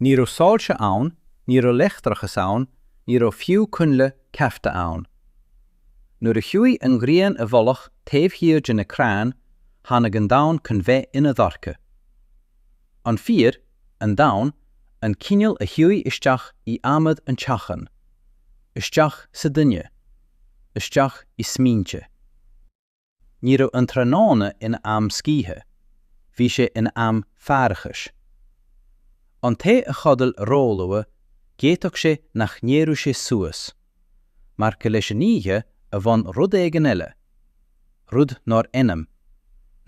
Ní raibh soilse ann, ní raibh leictreachas ann, ní raibh fiú coinnle cearta ann. Nuair a chuaigh an ghrian i bhfolach taobh thiar de na crainn, tháinig an domhan chun bheith ina dhorcha. An fíor, an domhain, an cineál a chuaigh isteach i adhmad an teachín. Isteach sa duine. Isteach i smaointe. Ní raibh an tráthnóna ina am scíthe, bhí sé ina am faireachais. An té a chodail róluath, d'fhéadfadh sé nach n-éireodh sé suas. Mar go leis an oíche a bhain rud éigin eile, rud nár ainm,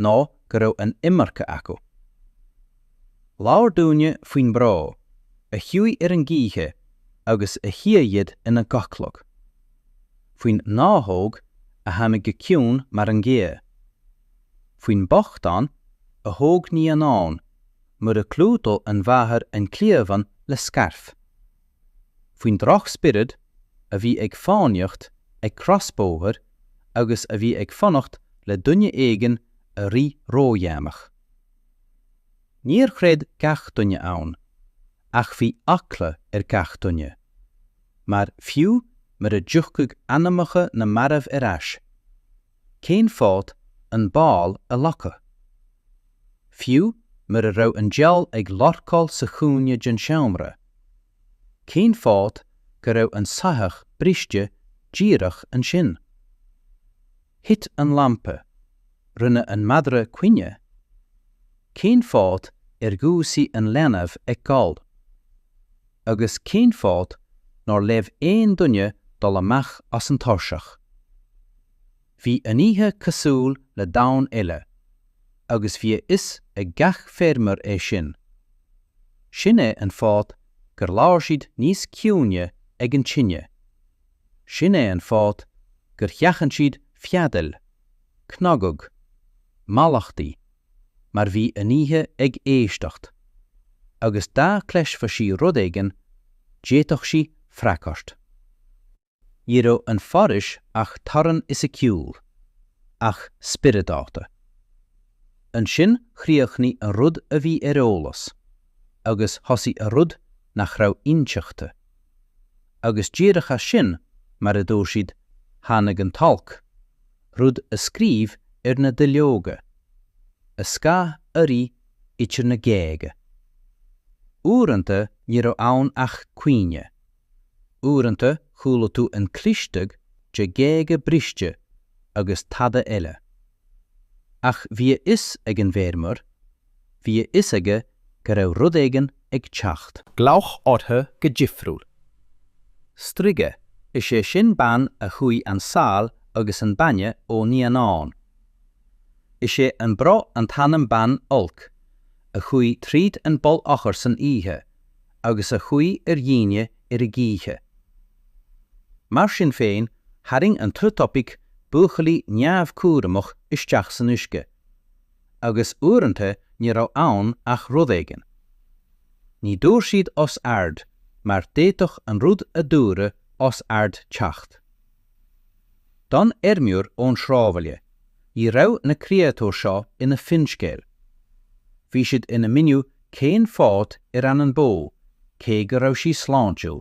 nó go raibh an iomarca acu. Labhair daoine faoin mbró a chuaigh ar an gcíche agus a shíothlaigh ina gcodladh. faoin ngnáthóg a tháinig go ciúin mar an ghaoth, faoin mbochtán a thóg naíonán mura gclúdódh an mháthair an cliabhán le scairf, faoin drochspiorad a bhí ag fánaíocht ag crosbhóthar agus a bhí ag fanacht le duine éigin a rith ródhéanach. Níor chreid gach duine ann, ach bhí eagla ar gach duine. Mar fiú mura dtiocfadh anamacha na marbh ar ais, cén fáth an baol a ghlacadh? Fiú mura raibh an diabhal ag lorcáil sa chúinne den seomra, cén fáth go raibh an soitheach briste díreach ansin? Thit an lampa, rinne an madra caoineadh? Cén fáth ar dhúisigh an leanbh ag gol? Agus cén fáth nár leomh aon duine dul amach as an tairseach? Bhí an oíche cosúil le domhan eile agus bhí a fhios ag gach feirmeoir é sin. Sin é an fáth gur labhair siad níos ciúine ag an tine. Sin é an fáth gur sheachain siad feadaíl, cnagadh, mallachtaí mar bhí an oíche ag éisteacht, agus dá cloisfeadh sí rud éigin, d'fhéadfadh sí freagairt. Ní raibh an foraois ach teorainn fhisiciúil, ach spioradálta. Ansin chríochnaigh an rud a bhí ar eolas, agus thosaigh an rud nach raibh inseachta. Agus díreach as sin, mar a dúirt siad, tháinig an t-olc, rud a scríobh ar na duilleoga, a scáth a rith idir na géaga. Uaireanta ní raibh ann ach caoineadh. Uaireanta chuala tú an clisteacht de ghéaga briste agus tada eile. Ach bhí a fhios ag an bhfeirmeoir, Bhí a fhios aige go raibh rud éigin ag teacht. Glaodh orthu go difriúil. Strighe, is é sin bean a shúigh an saol agus an bainne ó naíonáin. Is é an bro an t-anam bean olc a chuaigh tríd an bpoll eochair san oíche agus a shuigh ar dhaoine ar a gcíche. Mar sin féin, tharraing an t-utopiec buachaillí neamhchúramach isteach san uisce. agus uaireanta ní raibh ann ach rud éigin. Ní dúirt siad os ard mar d'fhéadfadh an rud a dúradh os ard teacht. Don fheirmeoir ón sráidbhaile, ní raibh na créatúir seo ina finscéal. Bhí siad ina míniú cén fáth ar fhan an bó cé go raibh sí sláintiúil.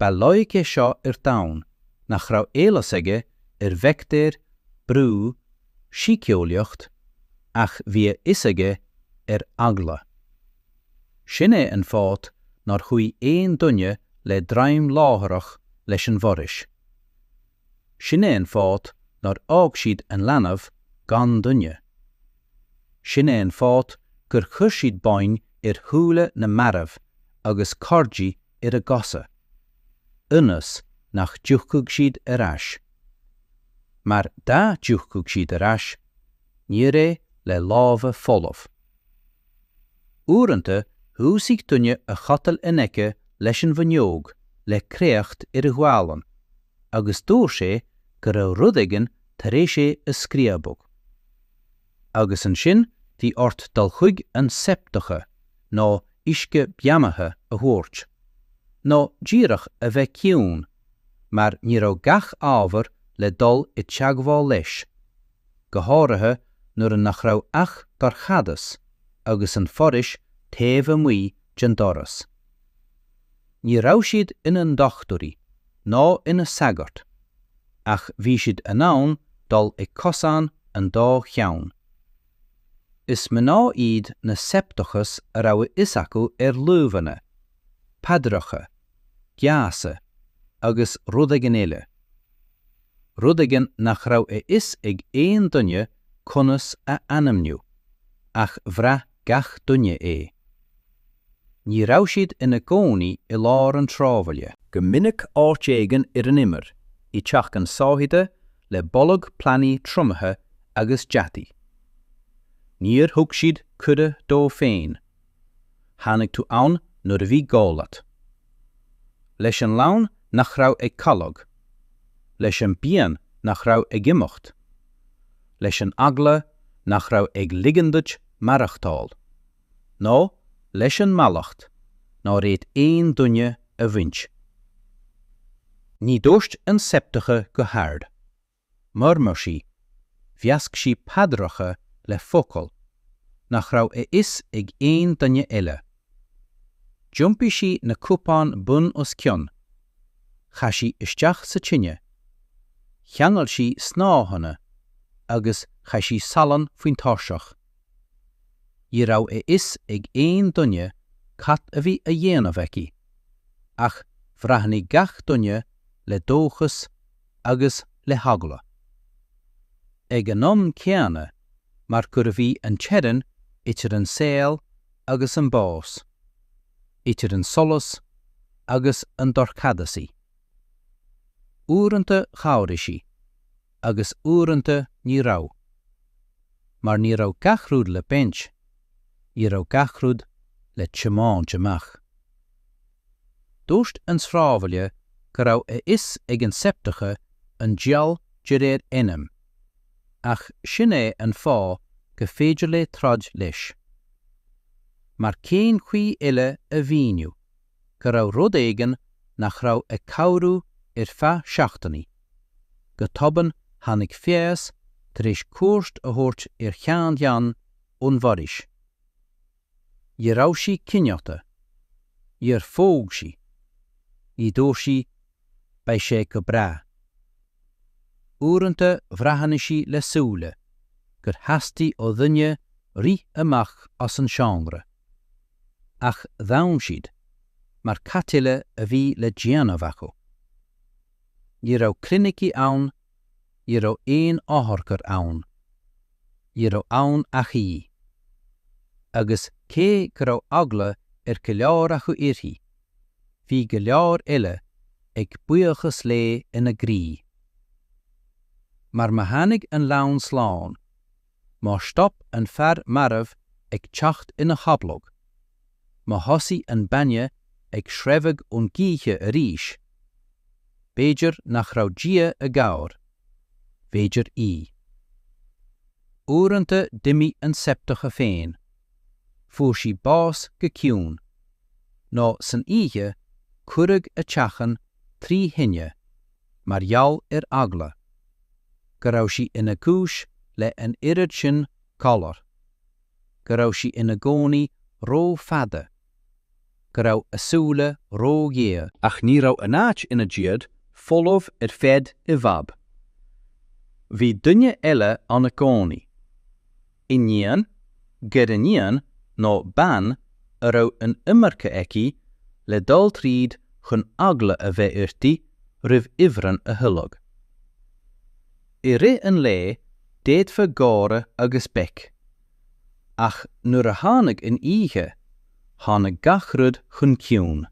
Ba loighic é seo ar domhan nach raibh eolas aige ar bhaictéir, brú, síceolaíocht, ach bhí a fhios aige ar eagla. Sin é an fáth nár shuigh aon duine le droim láithreach leis an bhforaois. Sin é an fáth nár fhág siad an leanbh gan duine. Sin é an fáth gur chuir siad boinn ar shúile na marbh agus cordaí ar a gcosa, ionas nach dtiocfadh siad ar ais. Mar dá dtiocfadh siad ar ais, níor é le lámha folamh. Uaireanta dhúisigh duine a chodail in aice leis an bhfuinneog le créacht ar a ghualainn agus dúirt sé go raibh rud éigin tar éis é a scríobadh. Agus ansin bhí ort dul chuig an szeptucha nó uisce beannaithe a thabhairt, nó díreach a bheith ciúin, mar ní raibh gach ábhar le dul i teagmháil leis. go háirithe nuair a nach raibh ach dorchadas agus an foraois taobh amuigh den doras. Ní raibh siad ina ndochtúirí ná ina sagairt ach bhí siad in ann dul ag cosán an dá cheann. Is mná iad na 'szeptuchas' a raibh a fhios acu ar luibheanna, paidreacha, geasa agus rud éigin eile. Rud éigin nach raibh a fhios ag aon duine conas a ainmniú, ach bhraith gach duine é. Ní raibh siad ina gcónaí i lár an tsráidbhaile. Go minic áit éigin ar an imeall, i dteachín sáithithe le boladh plandaí triomaithe agus deataigh. Níor thug siad cuireadh dóibh féin Tháinig tú ann nuair a bhí gá leat. Leis an leanbh nach raibh ag codladh. Leis an bpian nach raibh ag imeacht. Leis an eagla nach raibh ag ligean duit maireachtáil. Nó leis an mallacht nár fhéad aon duine a bhaint. Ní dúirt an szeptucha go hard. murmur sí, mheasc sí paidreacha le focail nach raibh a fhios ag aon duine eile. D'iompaigh sí na cupáin bun os cionn, chaith sí isteach sa tine, cheangail sí snáitheanna agus chaith sí salann faoin tairseach. Ní raibh a fhios ag aon duine cad a bhí á dhéanamh aici, ach bhreathnaigh gach duine le dóchas agus le heagla. Ag an am céanna, mar gurbh í an teorainn idir an saol agus an bás, idir an solas agus an dorchadas í. Uaireanta chabhraigh sí, agus uaireanta ní raibh. Mar ní raibh gach rud le baint, ní raibh gach rud le tiomáint amach. Dúirt an sráidbhaile go raibh a fhios ag an szeptucha an diabhal de réir ainm, ach sin é an fáth go féidir léi troid leis. Mar cén chaoi eile a mhíniú go raibh rud éigin nach raibh ag cabhrú ar feadh seachtainí? Go tobann tháinig feabhas tar éis cuairt a thabhairt ar sheanbhean ón bhforaois. Ní raibh sí cineálta. Níor phóg sí. Ní dúirt sí, Beidh sé go breá. Uaireanta bhreathnaigh sí le súile gur theastaigh ó dhuine rith amach as an seomra. Ach d'fhan siad, mar cad eile a bhí le déanamh acu. Ní raibh clinicí ann Ní raibh aon otharcarr ann. Ní raibh ann ach í. Agus cé go raibh eagla ar go leor acu uirthi, bhí go leor eile ag buíochas léi ina gcroí. Mar má tháinig an leanbh slán, Má stop an fear marbh ag teacht ina chodladh, má thosaigh an bainne ag sreabhadh ón gcíche arís, b'fhéidir nach raibh Dia i gcabhair, b'fhéidir í. Uaireanta d'imigh an szeptucha féin, fuair sí bás go ciúin, nó san oíche cuireadh a teachín trí thine, mar gheall ar eagla go raibh sí ina cúis le an oiread sin galar, go raibh sí ina gcónaí ró-fhada, go raibh a súile ró-ghéar. Ach ní raibh an áit ina diaidh folamh ar feadh i bhfad. Bhí duine eile ann i gcónaí. Iníon, gariníon nó bean a raibh an iomarca aici le dul tríd chun eagla a bheith uirthi roimh ifreann a thuilleadh. I rith an lae d'fhéadfá gáire agus béic, ach nuair a tháinig an oíche, tháinig gach rud chun ciúin.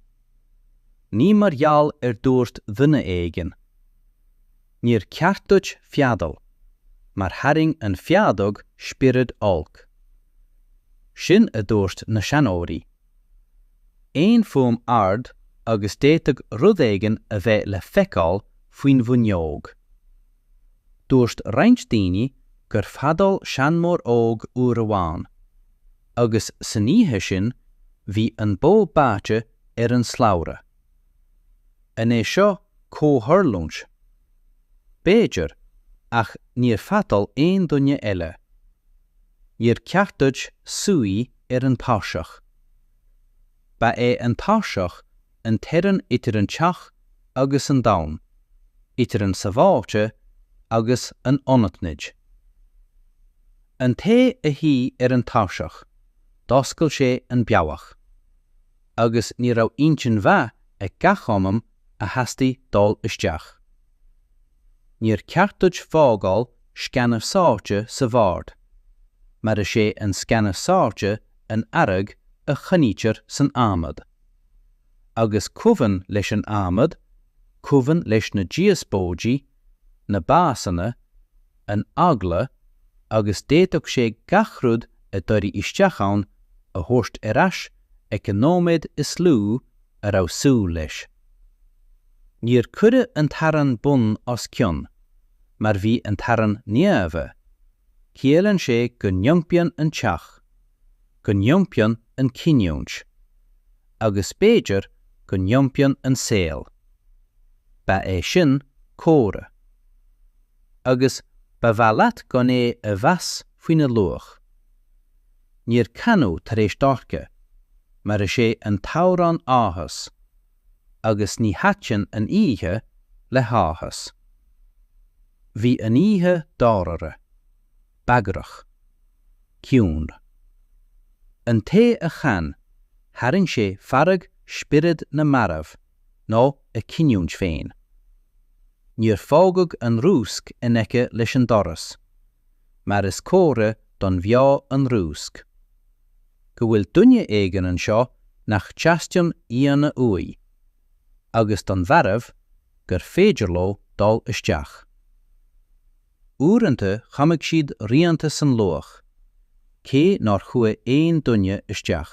Ní mar gheall ar dúirt duine éigin. Níor ceart duit feadal, mar tharraing an feadóg spiorad olc. Sin a dúirt na seanóirí. Aon fuaim ard agus d'fhéadfadh rud éigin a bheith le feiceáil faoin bhfuinneog. Dúirt roinnt daoine gur feadal seanmóir óg uair amháin, agus san oíche sin bhí an bó báite ar an slabhra. An é seo comhtharlúint? B'fhéidir, ach níor feadal aon duine eile. Níor ceart duit suí ar an tairseach. Ba é an tairseach an teorainn idir an teach agus an domhan, idir an sabháilte agus an anaithnid. An té a shuigh ar an tairseach, d'oscail sé an bealach. agus ní raibh intinn mhaith ag gach anam a theastaigh dul isteach. Níor ceart duit fágáil sceana sáite sa bhord, mar is é an sceana sáite an fhearg a choinnítear san adhmad. Agus cuimhin leis an adhmad, cuimhin leis na díospóidí na básanna, an eagla agus d'fhéadfadh sé gach rud a d'éirigh isteach ann a thabhairt ar ais ag an nóiméad is lú a raibh súil leis. Níor cuireadh an t-arán bun os cionn mar bhí an t-arán naofa, ciallann sé go n-iompaíonn an teach, go n-iompaíonn an chinniúint. agus b'fhéidir go n-iompaíonn an saol. Ba é sin córa. Agus ba mhaith leat gan é a mheas faoina luach. Níor canadh tar éis dorcha, mar is é an t-amhrán áthas, agus ní thaitin an oíche le háthas. Bhí an oíche dáiríre. bagrach, ciúin. An té a chan, tharraing sé fearg spiorad na marbh nó a chinniúint féin. Níor fágadh an rúsc in aice leis an doras, mar is comhartha don bheo an rúsc. Go bhfuil duine éigin anseo nach dteastaíonn aíonna uaidh, agus don mharbh gur féidir leo dul isteach. Uaireanta chonaic siad rianta san luaith, cé nár chuaidh aon duine isteach.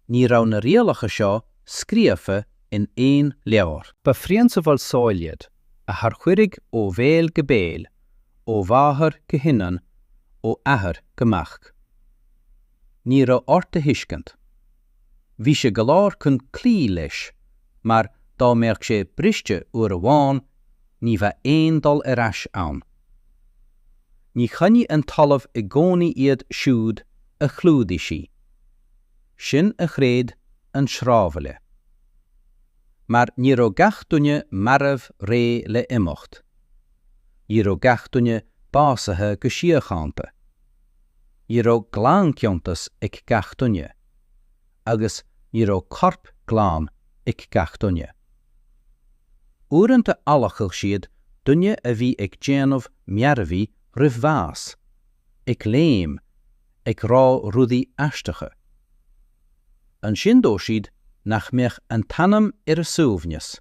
Ní raibh na rialacha seo scríofa in aon leabhar. Ba phrionsabal saoil iad, a tarchuireadh ó bhéal go béal, ó mháthair go hiníon, ó athair go mac. Ní raibh ort a thuiscint. Bhí sé go leor chun cloí leis mar dá mbeadh sé briste uair amháin ní bheadh aon dul ar ais ann. Ní choinnigh an talamh i gcónaí iad siúd a chlúdaíodh sí. Sin a chreid an sráidbhaile. Mar ní raibh gach duine marbh réidh le imeacht. Ní raibh gach duine básaithe go síochánta. Ní raibh glanchoinsias ag gach duine, agus ní raibh corp glan ag gach duine. Uaireanta adhlacadh siad duine a bhí ag déanamh mearbhaí roimh bhás, ag léim, ag rá rudaí aisteacha. Ansin dó siad nach mbeadh an t-anam ar a suaimhneas.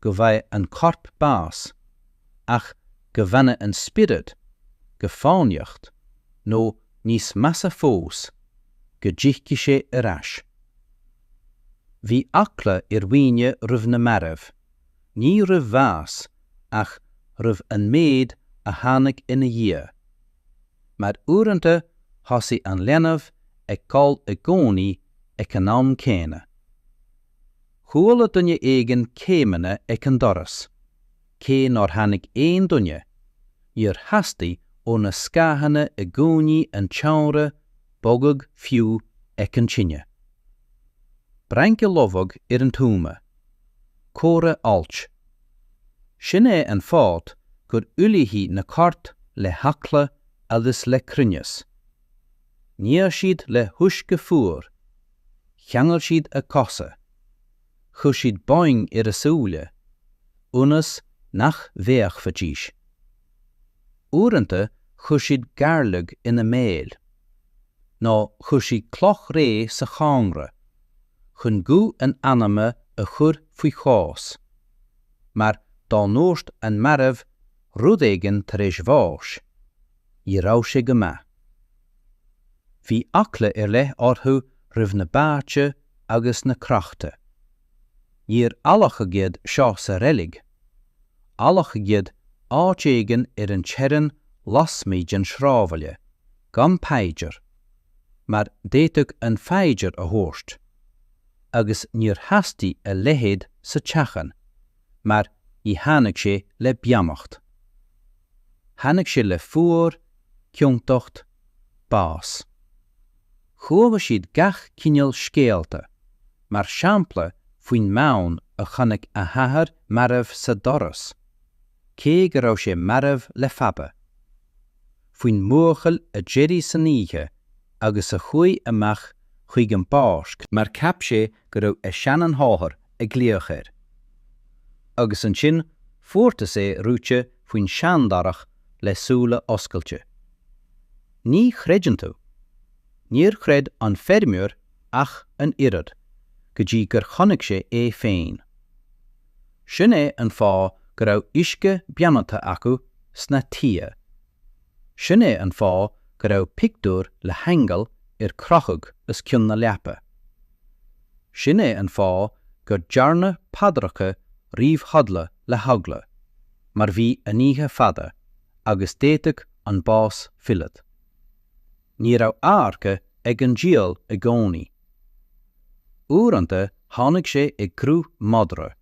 go bhfaigheadh an corp bás ach go bhfanadh an spiorad, ag fánaíocht, nó níos measa fós, go dtiocfadh sé ar ais. Bhí eagla ar dhaoine roimh na mairbh, ní roimh bhás ach roimh an méid a tháinig ina dhiaidh. Mar uaireanta thosaigh an leanbh ag gol i gcónaí ag an am céanna. Chuala duine éigin céimeanna ag an doras. Cé nár tháinig aon duine, níor theastaigh ó na scáthanna i gcúinní an tseomra bogadh fiú ag an tine. Brainc a lobhadh ar an tuama. Comhartha oilc. Sin é an fáth gur ullmhaíodh na coirp le heagla agus le cruinneas. Nigh siad le huisce fuar. cheangail siad a cosa, chuir siad boinn ar a súile, ionas nach bhféachfaidís. Uaireanta chuir siad gairleog ina mbéal, nó chuir siad cloch réidh sa chónra, chun guth an anama a chur faoi chos, mar dá ndúirt an marbh rud éigin tar éis bháis, ní raibh sé go maith. Bhí eagla ar leith orthu roimh na báite agus na crochta. Níor adhlacadh iad seo sa reilig. Adhlacadh iad áit éigin ar an teorainn lasmuigh den sráidbhaile, gan paidir, mar d'fhéadfadh an phaidir a thabhairt, agus níor theastaigh a leithéid sa teachín. mar ní tháinig sé le beannacht. Tháinig sé le fuar, ciontacht, bás. Chuala siad gach cineál scéalta, mar shampla faoin mbean a chonaic a hathair marbh sa doras, cé go raibh sé marbh le fada. faoin mbuachaill a d'éirigh san oíche agus a chuaigh amach chuig an bpáirc, mar cheap sé go raibh a sheanmháthair ag glaoch air, agus ansin fuartas é reoite faoin seandarach le súile oscailte. Ní chreideann tú! Níor chreid an feirmeoir ach an oiread, go dtí gur chonaic sé é féin. Sin é an fáth go raibh uisce beannaithe acu sna tithe. Sin é an fáth go raibh pictiúir le haingeal ar crochadh os cionn na leapa. Sin é an fáth gur dearnadh paidreacha roimh chodladh le heagla, mar bhí an oíche fada, agus d'fhéadfadh an bás filleadh. Ní raibh adharca ag an diabhal i gcónaí. Uaireanta tháinig sé i gcruth madra,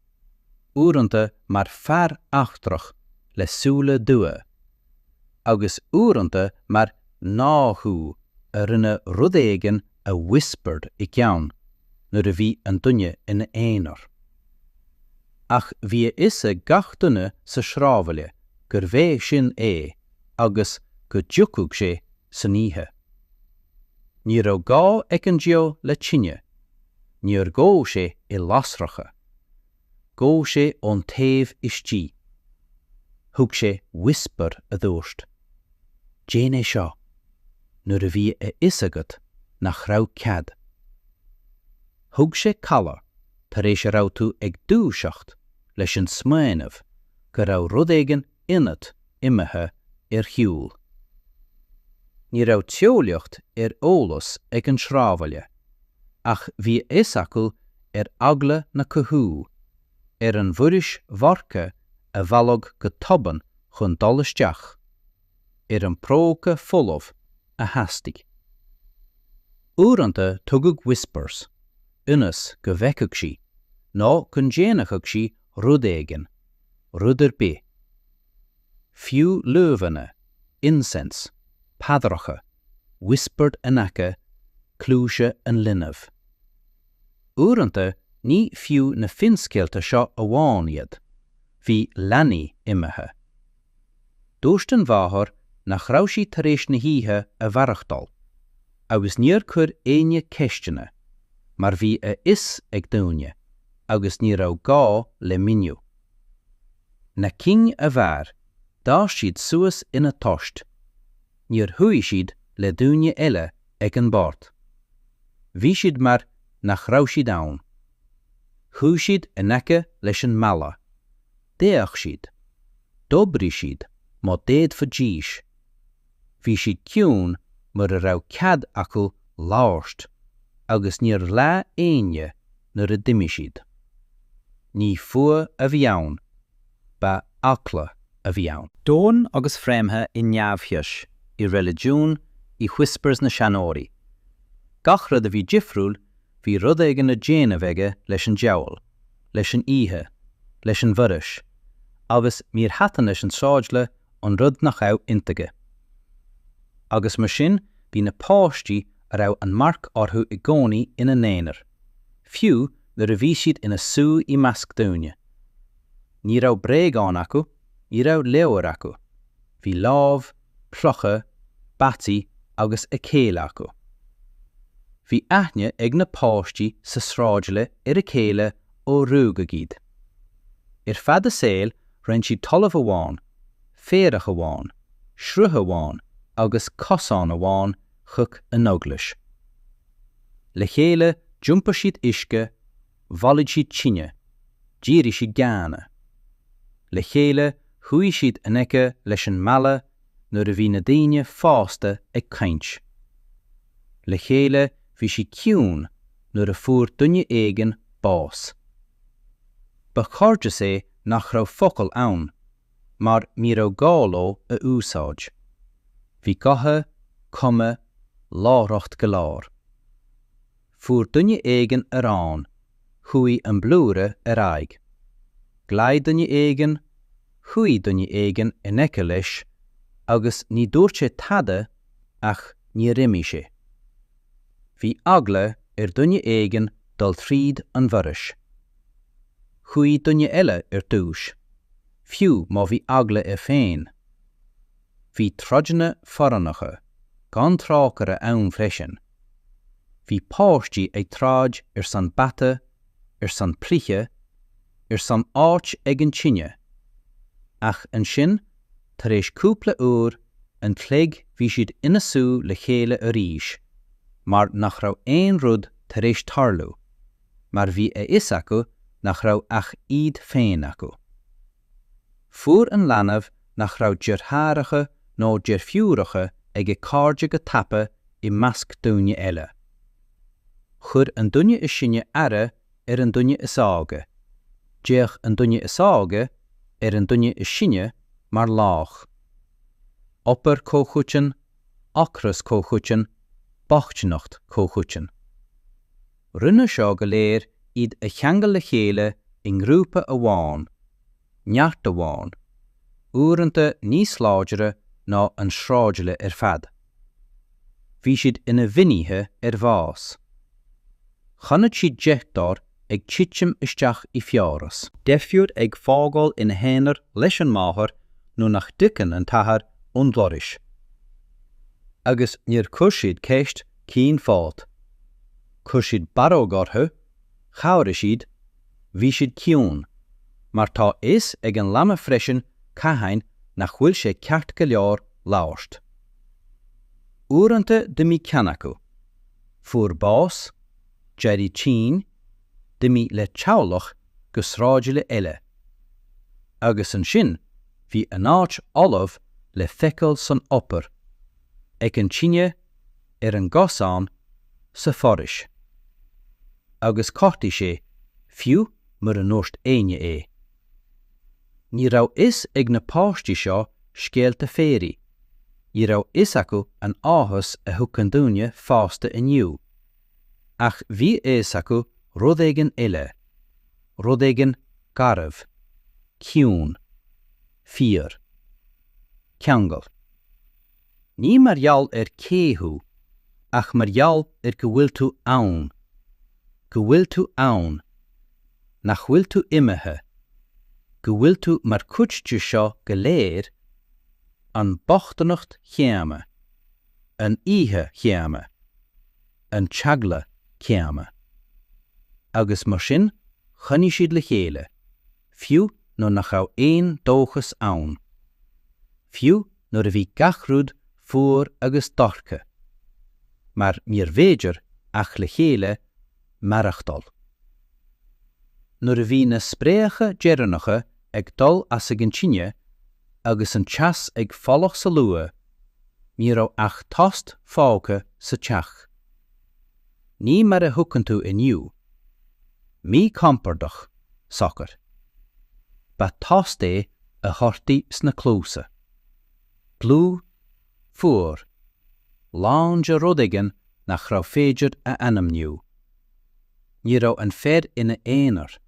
uaireanta mar fear eachtrach le súile dubha, agus uaireanta mar ghnáthghuth a rinne rud éigin a whispered i gceann nuair a bhí an duine ina aonar. Ach bhí a fhios ag gach duine sa sráidbhaile gurbh é sin é. agus go dtiocfadh sé san oíche. Ní raibh gá ag an diabhal le tine, níor dhóigh sé i lasracha. Dhóigh sé ón taobh istigh. Thug sé whisper a dúirt, Déan é seo, nuair a bhí a fhios agat nach raibh cead. Thug sé codladh tar éis a raibh tú ag dúiseacht leis an smaoineamh go raibh rud éigin ionat imithe ar shiúl. Ní raibh teolaíocht ar eolas ag an sráidbhaile, ach bhí a fhios acu ar eagla na cathú, ar an Mhuiris Bhorca a mhealladh go tobann chun dul isteach, ar an próca folamh a theastaigh. Uaireanta tugadh whispers, ionas go bhfeicfeadh sí, nó go ndéanfadh sí rud éigin, rud ar bith. Fiú luibheanna, incense, paidreacha, whispered in aice cluaise an linbh. Uaireanta ní fiú na finscéalta seo amháin iad, bhí leanaí imithe, Dúirt an mháthair nach raibh sí tar éis na hoíche a mhaireachtáil, agus níor chuir éinne ceisteanna, mar bhí a fhios ag daoine, agus ní raibh gá le míniú. Na cinn a mhair, d'fhás siad suas ina dtost. Níor shuigh siad le daoine eile ag an mbord. Bhí siad mar nach raibh siad ann. Shuigh siad in aice leis an mballa. D'fhéach siad. D'oibrigh siad má d'fhéadfaidís. Bhí siad ciúin mura raibh cead acu labhairt agus níor ghlaoigh éinne nuair a d'imigh siad. Ní fuath a bhí ann, ba eagla a bhí ann. Domhain agus fréamhaithe i neamhfhios, i reiligiún, i whispers na seanóirí. Gach rud a bhí difriúil, bhí rud éigin le déanamh aige leis an diabhal. leis an oíche, leis an bhforais, agus níor thaitin leis an tsráidbhaile an rud nach raibh intuigthe. Agus mar sin bhí na páistí a raibh an marc orthu i gcónaí ina n-aonar, fiú nuair a bhí siad ina suí i measc daoine. Ní raibh bréagáin acu, ní raibh leabhair acu. Bhí láib, clocha, bataí agus a chéile acu. Bhí aithne ag na páistí sa sráidbhaile ar a chéile ó rugadh iad. Ar feadh a saoil roinn siad talamh amháin, féarach amháin, sruth amháin agus cosán amháin chuig an eaglais. Le chéile d'iompair siad uisce, bhailigh siad tine, dhírigh siad géanna. Le chéile shuigh siad in aice leis an mballa nuair a bhí na daoine fásta ag caint. Le chéile bhí siad ciúin nuair a fuair duine éigin bás. Ba chairdeas é nach raibh focail ann, mar ní raibh gá leo a úsáid. Bhí gotha, cuma, láithreacht go leor. Fuair duine éigin arán. Chuaigh an blúire ar aghaidh. Ghlaoigh duine éigin. Shuigh duine éigin in aice leis agus ní dúirt sé tada ach níor imigh sé. Bhí eagla ar dhuine éigin dul tríd an bhforais. Chuaigh duine eile ar dtúis, fiú má bhí eagla air féin. Bhí troideanna forránacha gan trócaire ann freisin. Bhí páistí ag troid ar son bata, ar son cluiche, ar son áit ag an tine. Ach ansin, tar éis cúpla uair an chloig bhí siad ina suí le chéile arís mar nach raibh aon rud tar éis tarlú, mar bhí a fhios acu nach raibh ach iad féin acu. Fuair an leanbh nach raibh deartháireacha nó deirfiúracha aige cairde go tapa i measc daoine eile. Chuir an duine is sine aire ar an duine is óige, d'fhéach an duine is óige ar an duine is sine mar laoch. Obair chomhchoiteann, ocras comhchoiteann, bochtaineacht chomhchoiteann. Rinne seo go léir iad a cheangal le chéile i ngrúpa amháin, neart amháin, uaireanta níos láidre ná an sráidbhaile ar fad. Bhí siad ina bhfinnéithe ar bhás. Chonaic siad deartháir ag titim isteach i bhfiabhras. Deirfiúr ag fágáil ina haonar leis an máthair nuair nach dtagann an t-athair ón bhforaois. Agus níor chuir siad ceist Cén fáth? Chuir siad barróg orthu, chabhraigh siad, bhí siad ciúin. Mar tá a fhios ag an leanbh freisin cathain nach bhfuil sé ceart go leor labhairt. Uaireanta d'imigh ceann acu, fuair bás, d'éirigh tinn, d'imigh le teaghlach go sráidbhaile eile. Agus ansin bhí an áit fholamh le feiceáil san obair, ag an tine ar an gcosán sa bhforaois agus ghortaigh sé fiú mura ndúirt éinne é. Ní raibh fhios ag na páistí seo scéalta féirí, ní raibh fhios acu an áthas a thuigeann duine fásta inniu, ach bhí a fhios acu rud éigin eile, rud éigin garbh, ciúin, fíor. Ceangal. Ní mar gheall ar cé thú, ach mar gheall ar go bhfuil tú ann. Go bhfuil tú ann. Nach bhfuil tú imithe. Go bhfuil tú mar chuid de seo go léir, an bhochtaineacht chéanna, an oíche chéanna, an t-eagla céanna. Agus mar sin choinnigh siad le chéile. fiú nuair nach raibh aon dóchas ann. Fiú nuair a bhí gach rud fuar agus dorcha. Mar níorbh fhéidir, ach le chéile, maireachtáil. Nuair a bhí na spréacha deireanacha ag dul as ag an tine agus an teas ag folach sa luaith, ní raibh ach tost fágtha sa teach. Ní mar a thuigeann tú inniu. Míchompordach, socair. Ba thost é a dhoirtí sna cluasa. Dlúth, fuar, lán de rud éigin nach rabh fhéidir a ainmniú. Ní raibh an fear ina aonar,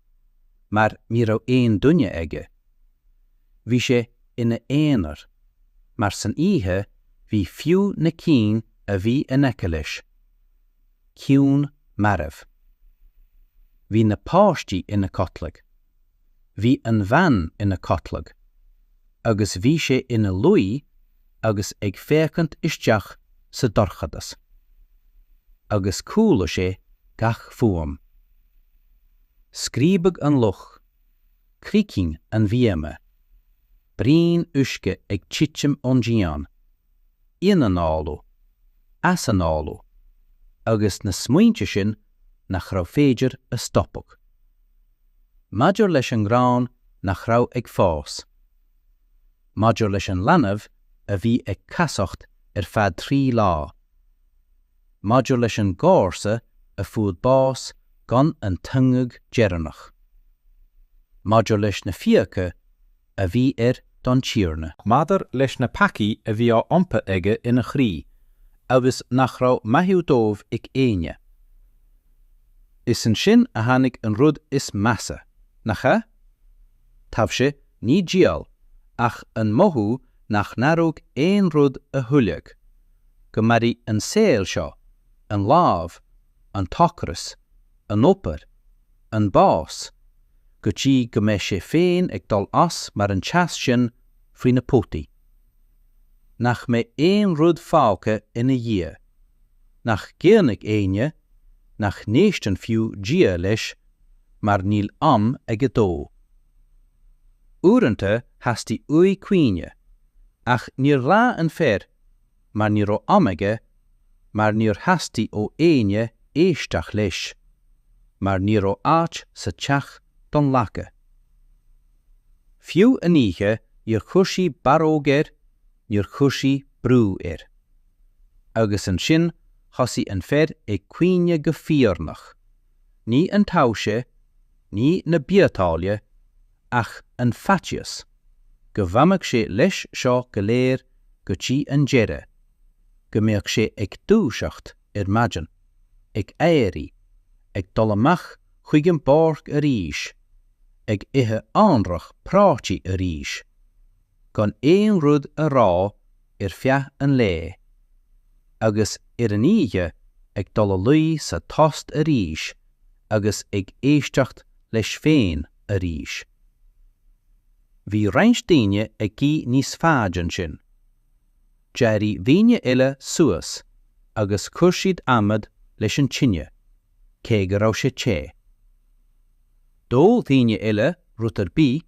mar ní raibh aon duine aige. Bhí sé ina aonar, mar san oíche bhí fiú na cinn a bhí in aice leis, ciúin marbh. Bhí na páistí ina codladh. Bhí an bhean ina codladh. Agus bhí sé ina luí agus ag féachaint isteach sa dorchadas. Agus chuala sé gach fuaim. Scríobadh an luch. Gíoscán an bhíoma. Braon uisce ag titim ón díon. ionanálú, easanálú agus na smaointe sin nach raibh féidir a stopadh. Maidir leis an ngrán nach raibh ag fás. Maidir leis an leanbh a bhí ag casacht ar feadh trí lá. Maidir leis an gcomharsa a fuair bás gan an t-ungadh deireanach. Maidir leis na fiacha a bhí air don Tiarna. Maidir leis na peacaí a bhí á iompar aige ina chroí agus nach raibh maithiú dóibh ag éinne, is ansin a tháinig an rud is measa, nach ea? Taibhse, ní diabhal, ach an mothú nach n-athródh aon rud a thuilleadh, go mairfidh an saol seo, an lámh, an t-ocras, an obair, an bás, go dtí go mbeidh sé féin ag dul as mar an teas sin faoi na potaí. Nach mbeidh aon rud fágtha ina dhiaidh. Nach gcaoinfidh éinne, nach n-éisteann fiú Dia leis mar níl am aige dó. Uaireanta theastaigh uaidh caoineadh, ach níor ghlaoigh an fear mar ní raibh am aige, mar níor theastaigh ó éinne éisteach leis, mar ní raibh áit sa teach don laca. Fiú an oíche níor chuir sé barróg air, níor chuir sé brú air. Agus ansin thosaigh an fear ag caoineadh go fíornach, ní an taibhse, ní na biotáille, ach an faitíos. go bhfanfadh sé leis seo go léir go dtí an deireadh, go mbeadh sé ag dúiseacht ar maidin, ag éirí, ag dul amach chuig an bpáirc arís, ag ithe anraith prátaí arís, gan aon rud a rá ar feadh an lae, agus ar an oíche ag dul a luí sa tost arís agus ag éisteacht leis féin. arís. Bhí roinnt daoine ag guí níos faide ansin. D'éirigh daoine eile suas agus chuir siad adhmad leis an tine cé go raibh sé te. Do dhaoine eile rud ar bith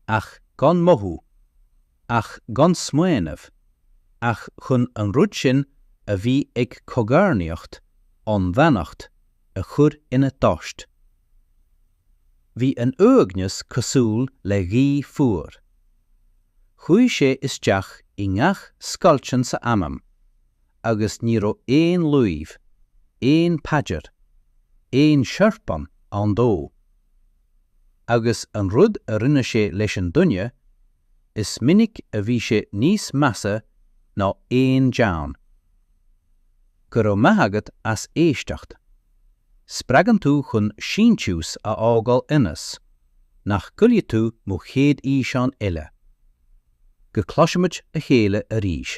ach gan mothú, ach gan smaoineamh ach chun an rud sin a bhí ag cogarnaíocht an bheannacht a chur ina dtost. Bhí an uaigneas cosúil le gaoth fhuar. Chuaigh sé isteach i ngach scoilt ann sa anam agus ní raibh aon luibh, aon paidir, aon siorpán ann dó. Agus an rud a rinne sé leis an duine, is minic a bhí sé níos measa ná aon deamhan. Go raibh maith agat as éisteacht. Spreagann tú chun síntiús a fhágáil ionas nach gcaillfidh tú mo chéad fhíseán eile. Go cloisimid a chéile arís.